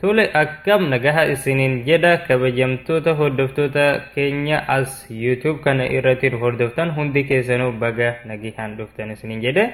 Tole akkam nagaha isiniin jedha kabajamtoota hordoftoota keenya as YouTube kana irratti nu hordoftan hundi keessanuu baga nagihaan dhuftan isiniin jedhe.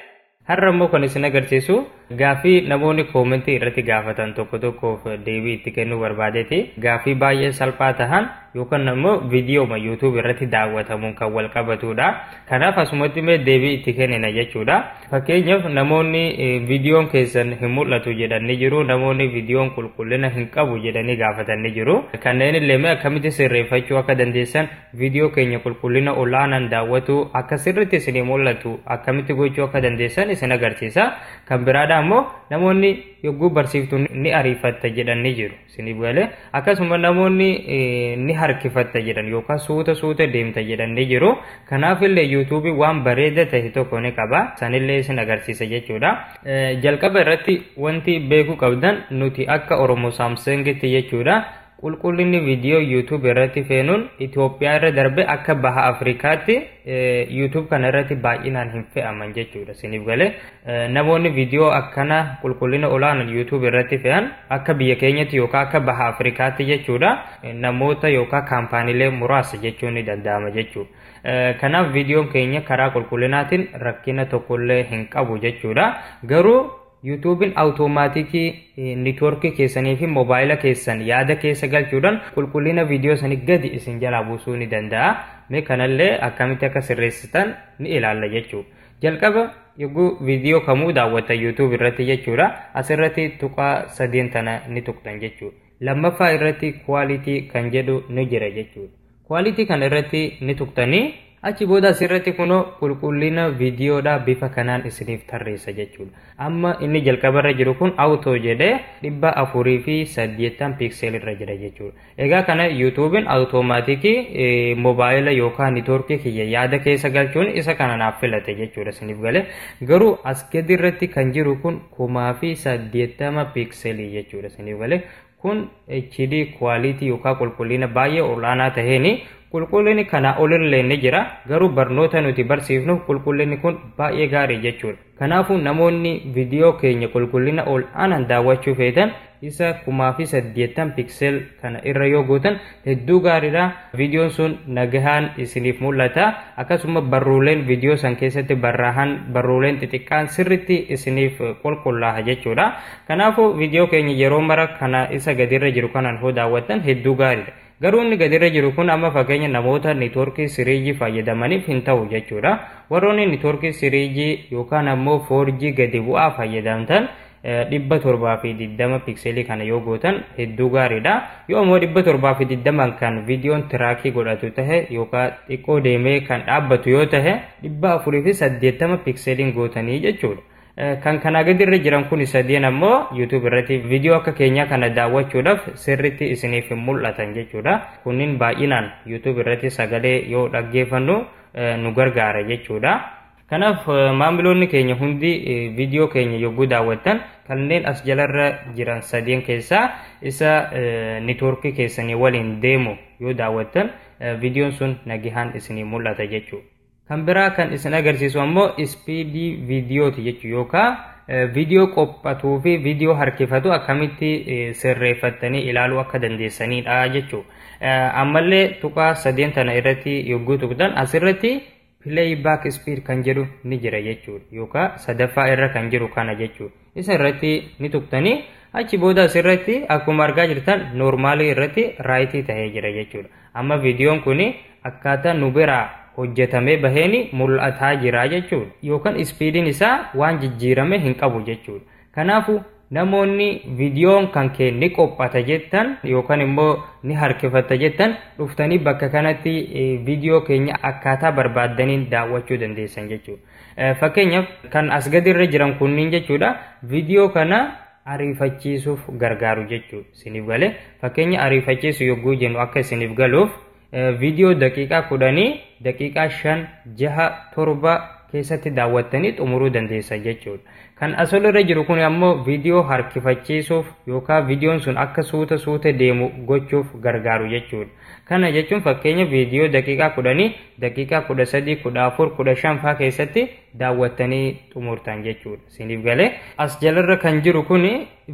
Har'a immoo kan isin agarsiisu gaaffii namoonni koomentii irratti gaafatan tokko tokkoof deebii itti kennuu barbaadeeti. Gaaffii baay'ee salphaa tahan yookaan ammoo viidiyooma YouTube irratti daawwatamuun kan wal qabatudha. Kanaaf asumatti mee deebii itti kennina jechuudha. Fakkeenyaaf namoonni viidiyoon keessan hin mul'atu jedhanii jiru, namoonni viidiyoon qulqullina hin qabu jedhanii gaafatanii jiru. Kanneen illee mee akkamitti sirreeffachuu akka dandeessan viidiyoo keenya qulqullina ol'aanaan daawwatu akka sirriitti isin mul'atu akkamitti gochuu akka dandeessan isin agarsiisa. Kan biraadha ammoo namoonni yogguu barsiiftu ni ariifatta jedhanii jiru. Isiniif galee akkasuma namoonni ni harkifatta jedhan yookaan suuta suuta deemta jedhan ni jiru. Kanaaf illee yuutuubii waan bareeda ta'e tokko ni qaba. Sanillee isin agarsiisa jechuudha. Jalqaba irratti wanti beekuu qabdan nuti akka Oromoo Saamsangitti jechuudha. Qulqullinni viidiyoo yuutuubii irratti feenuun Itoophiyaa irra darbe akka baha Afrikaatti yuutuub kana irratti baay'inaan hin fe'aman jechuudha. Isiniif galee Namoonni viidiyoo akkana qulqullina olaanaan YouTube irratti fe'an akka biyya keenyatti yookaan akka baha Afrikaatti jechuudha namoota yookaan kaampaaniilee muraasa jechuun ni danda'ama jechuudha. Kanaaf viidiyoon keenya karaa qulqullinaatiin rakkina tokkollee hin qabu jechuudha. Garuu yuutuubiin awutoomaatikii niitwoorkii keessanii fi moobaayila keessan yaada keessa galchuudhaan qulqullina viidiyoo sanii gadi isin jalaa buusuu ni danda'a. Mee kanallee akkamitti akka sirreessitan ni ilaalla jechuudha. Jalqaba yogguu viidiyoo kamuu daawwatan YouTube irratti jechuudha. Asirratti tuqaa sadeen tana ni tuqxan jechuudha. Lammaffaa irratti quality kan jedhu ni jira jechuudha. Quality kana irratti ni tuqtanii achi booda asirratti kunoo qulqullina viidiyoodhaa bifa kanaan isiniif tarreessa jechuudha. Amma inni jalqabarra jiru kun auto jedhee dhibba afurii fi saddeettan piikseel irra jira jechuudha. Egaa kana yuutuubiin awutoomaatikii mobaayila yookaan niitoorkii kiyya yaada keessa galchuun isa kana naaf filate jechuudha isiniif gale. Garuu as gadi irratti kan jiru kun kumaa fi saddeettama piikselii jechuudha isiniif gale. Kun HD kwaalitii yookaan qulqullina baay'ee ol'aanaa taheeni qulqullinni kanaa olillee ni jira. Garuu barnoota nuti barsiifnuuf qulqullinni kun baay'ee gaarii jechuudha. Kanaafuu namoonni viidiyoo keenya qulqullina ol aanaan daawwachuu feetan isa kumaa fi saddeettan piksel kana irra yoo gootan hedduu gaariidha. Viidiyoon sun nagahaan isiniif mul'ata. Akkasuma barruuleen viidiyoo san keessatti barraahan barruuleen xixiqqaan sirritti isiniif qulqullaaha jechuudha. Kanaafuu viidiyoo keenya yeroo mara kana isa gadirra jiru kanaan hoo daawwattan hedduu gaariidha. Garuu inni gadirra jiru kun amma fakkeenya namoota networkii 3G fayyadamaniif hin ta'u jechuudha. Warroonni networkii 3G yookaan ammoo 4G gadi bu'aa fayyadamtan dhibba torbaa fi digdama pikseelii kana yoo gootan hedduu gaariidha. Yoo ammoo dhibba torbaa fi digdaman kan viidiyoon tiraakii godhatu tahe yookaan xiqqoo deemee kan dhaabbatu yoo tahe dhibba afurii fi saddeettama pikseeliin gootanii jechuudha. Kan kanaa gadi irra jiran kun sadeen ammoo YouTube irratti viidiyoo akka keenyaa kana daawwachuudhaaf sirriitti isiniif hin mul'atan jechuudha. Kunniin baay'inaan YouTube irratti sagalee yoo dhaggeeffannu nu gargaara jechuudha. Kanaaf maamiloonni keenya hundi viidiyoo keenya yogguu daawwattan kanneen as jalarra jiran sadeen keessaa isa niitoorkii keessanii waliin deemu yoo daawwattan viidiyoon sun nagihaan isinii mul'ata jechuudha. Kan biraa kan isin agarsiisu ammoo ispiidii viidiyooti jechuudha yookaan viidiyoo qophatuu fi viidiyoo harkifatu akkamitti sirreeffattanii ilaaluu akka dandeessanidha jechuudha. Ammallee tuqaa sadeen tana irratti yogguu tuqxan asirratti play back speed kan jedhu ni jira jechuudha yookaan sadaffaa irra kan jiru kana jechuudha. isa irratti ni tuqtanii achi booda asirratti akkuma argaa jirtan noormaalii irratti raayitii ta'ee jira jechuudha. Amma viidiyoon kun akkaataa nu biraa hojjetamee baheen mul'ataa jira jechuudha. Yookaan ispiidiin isaa waan jijjiirame hin qabu jechuudha. Kanaafuu namoonni viidiyoon kan kee ni qophata jettan yookaan immoo ni harkifatta jettan dhuftanii bakka kanatti viidiyoo keenya akkaataa barbaaddaniin daawwachuu dandeessan jechuudha. Fakkeenyaaf kan as gadi irra jiran kunniin jechuudha viidiyoo kana ariifachiisuuf gargaaru jechuudha isiniif galee fakkeenya ariifachiisu yogguu jennu akka isiniif galuuf viidiyoo daqiiqaa kudhanii daqiiqaa shan jaha torba keessatti daawwattanii xumuruu dandeessa jechuudha. Kan as irra jiru kun ammoo viidiyoo harkifachiisuuf yookaan viidiyoon sun akka suuta suuta deemu gochuuf gargaaru jechuudha. Kana jechuun fakkeenya viidiyoo daqiiqaa kudhanii daqiiqaa kudha sadii, kudha afur, kudha shan faa keessatti daawwattanii xumurtan jechuudha. Isiniif galee as jalarra kan jiru kun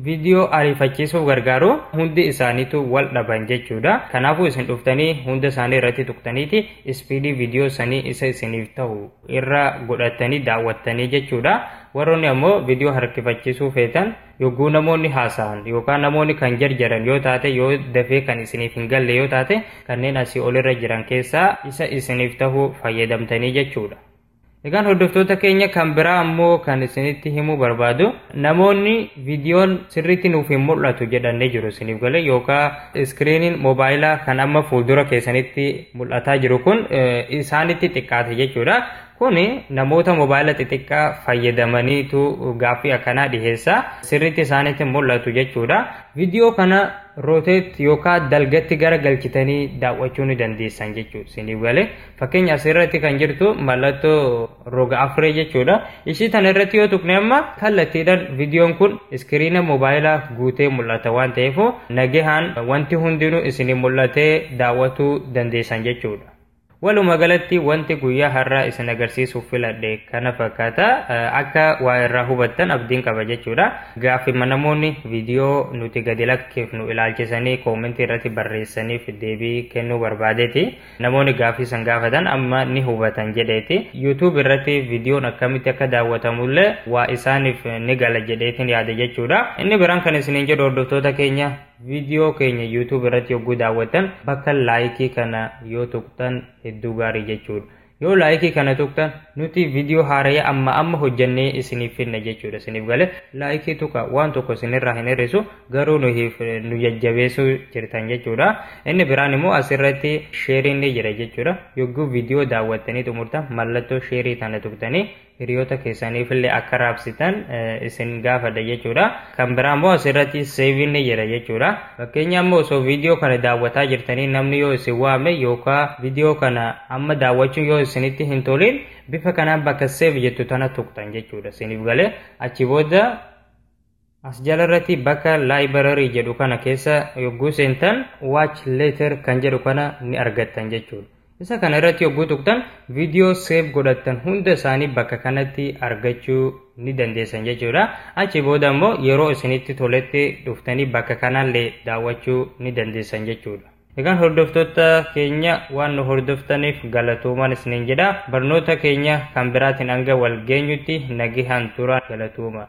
viidiyoo ariifachiisuuf gargaaru hundi isaaniitu wal dhaban jechuudha. Kanaafuu isin dhuftanii hunda isaanii irratti tuqtaniiti ispiidii viidiyoo sanii isa isiniif ta'u irra godhattanii daawwattanii jechuudha. Warroonni ammoo viidiyoo harkifachiisuu feetan Yogguu namoonni haasa'an yookaan namoonni kan jarjaran yoo taate yoo dafee kan isiniif hin galle yoo taate kanneen asii olirra jiran keessaa isa isiniif tahu fayyadamtanii jechuudha. Egaan hordoftoota keenya kan biraa ammoo kan isinitti himuu barbaadu namoonni viidiyoon sirriitti nuuf hin mul'atu jedhanii jiru isiniif galee yookaan iskiriiniin moobaayilaa kan amma fuuldura keessanitti mul'ataa jiru kun isaanitti xiqqaate jechuudha. Kun namoota mobaayila xixiqqaa fayyadamaniitu gaaffii akkanaa dhiheessa. Sirriitti isaanitti mul'atu jechuudha. Viidiyoo kana rooteet yookaan dalgatti gara galchitanii daawwachuu ni dandeessan jechuudha. Isiniif galee fakkeenya asirratti kan jirtu mallattoo roga afree jechuudha. Ishii tana irratti yoo tuqne amma kallattiidhaan viidiyoon kun iskiriina mobaayilaa guutee mul'ata waan ta'eef nagahaan wanti hundinuu isinii mul'atee daawwachuu dandeessan jechuudha. Waluma galatti wanti guyyaa har'aa isin agarsiisuuf filadhe kana fakkaata. Akka waa irraa hubattan abdiin qaba jechuudha. Gaaffiima namoonni viidiyoo nuti gadi lakkifnu ilaalchisanii koomentii irratti barreessaniif deebii kennuu barbaadeeti. Namoonni gaaffii san gaafatan amma ni hubatan jedheeti. YouTube irratti viidiyoon akkamitti akka daawwatamullee waa isaaniif ni gala jedheetiin yaada jechuudha. Inni biraan kan isiniin jedhu hordoftoota keenya Viidiyoo keenya YouTube irratti yogguu daawwattan bakka laayikii kana yoo tuqxan hedduu gaarii jechuudha. Yoo laayikii kana tuqxan nuti viidiyoo haaraya amma amma hojjannee isiniif finna jechuudha. Isiniif gale laayikii tuqa waan tokko isinirraa hin hir'isu garuu nu jajjabeessuu jirtan jechuudha. Inni biraan immoo asirratti sheeriin ni jira jechuudha. Yogguu viidiyoo daawwattanii xumurtan mallattoo sheerii tana tuqtanii hiriyoota keessaniifillee akka raabsitan isin gaafadha jechuudha. Kan biraa immoo asirratti seeviin ni jira jechuudha. Fakkeenya immoo osoo viidiyoo kana daawwataa jirtanii namni yoo isin waame yookaan viidiyoo kana amma daawwachuun yoo isinitti hin tolin bifa kanaan bakka seev jettu tana tuqxan jechuudha. Isiniif galee achi booda As jalarratti bakka library jedhu kana keessa yogguu seentan watch later kan jedhu kana ni argattan jechuudha. Isa kana irratti yogguu tuqtan viidiyoo save godhattan hunda isaanii bakka kanatti argachuu ni dandeessan jechuudha. Achi booda immoo yeroo isinitti toletti dhuftanii bakka kanallee daawwachuu ni dandeessan jechuudha. Egaan hordoftoota keenya waan nu hordoftaniif galatoomaan isiniin jedha. Barnoota keenya kan biraatiin hanga wal geenyutti nagihaan tura galatooma.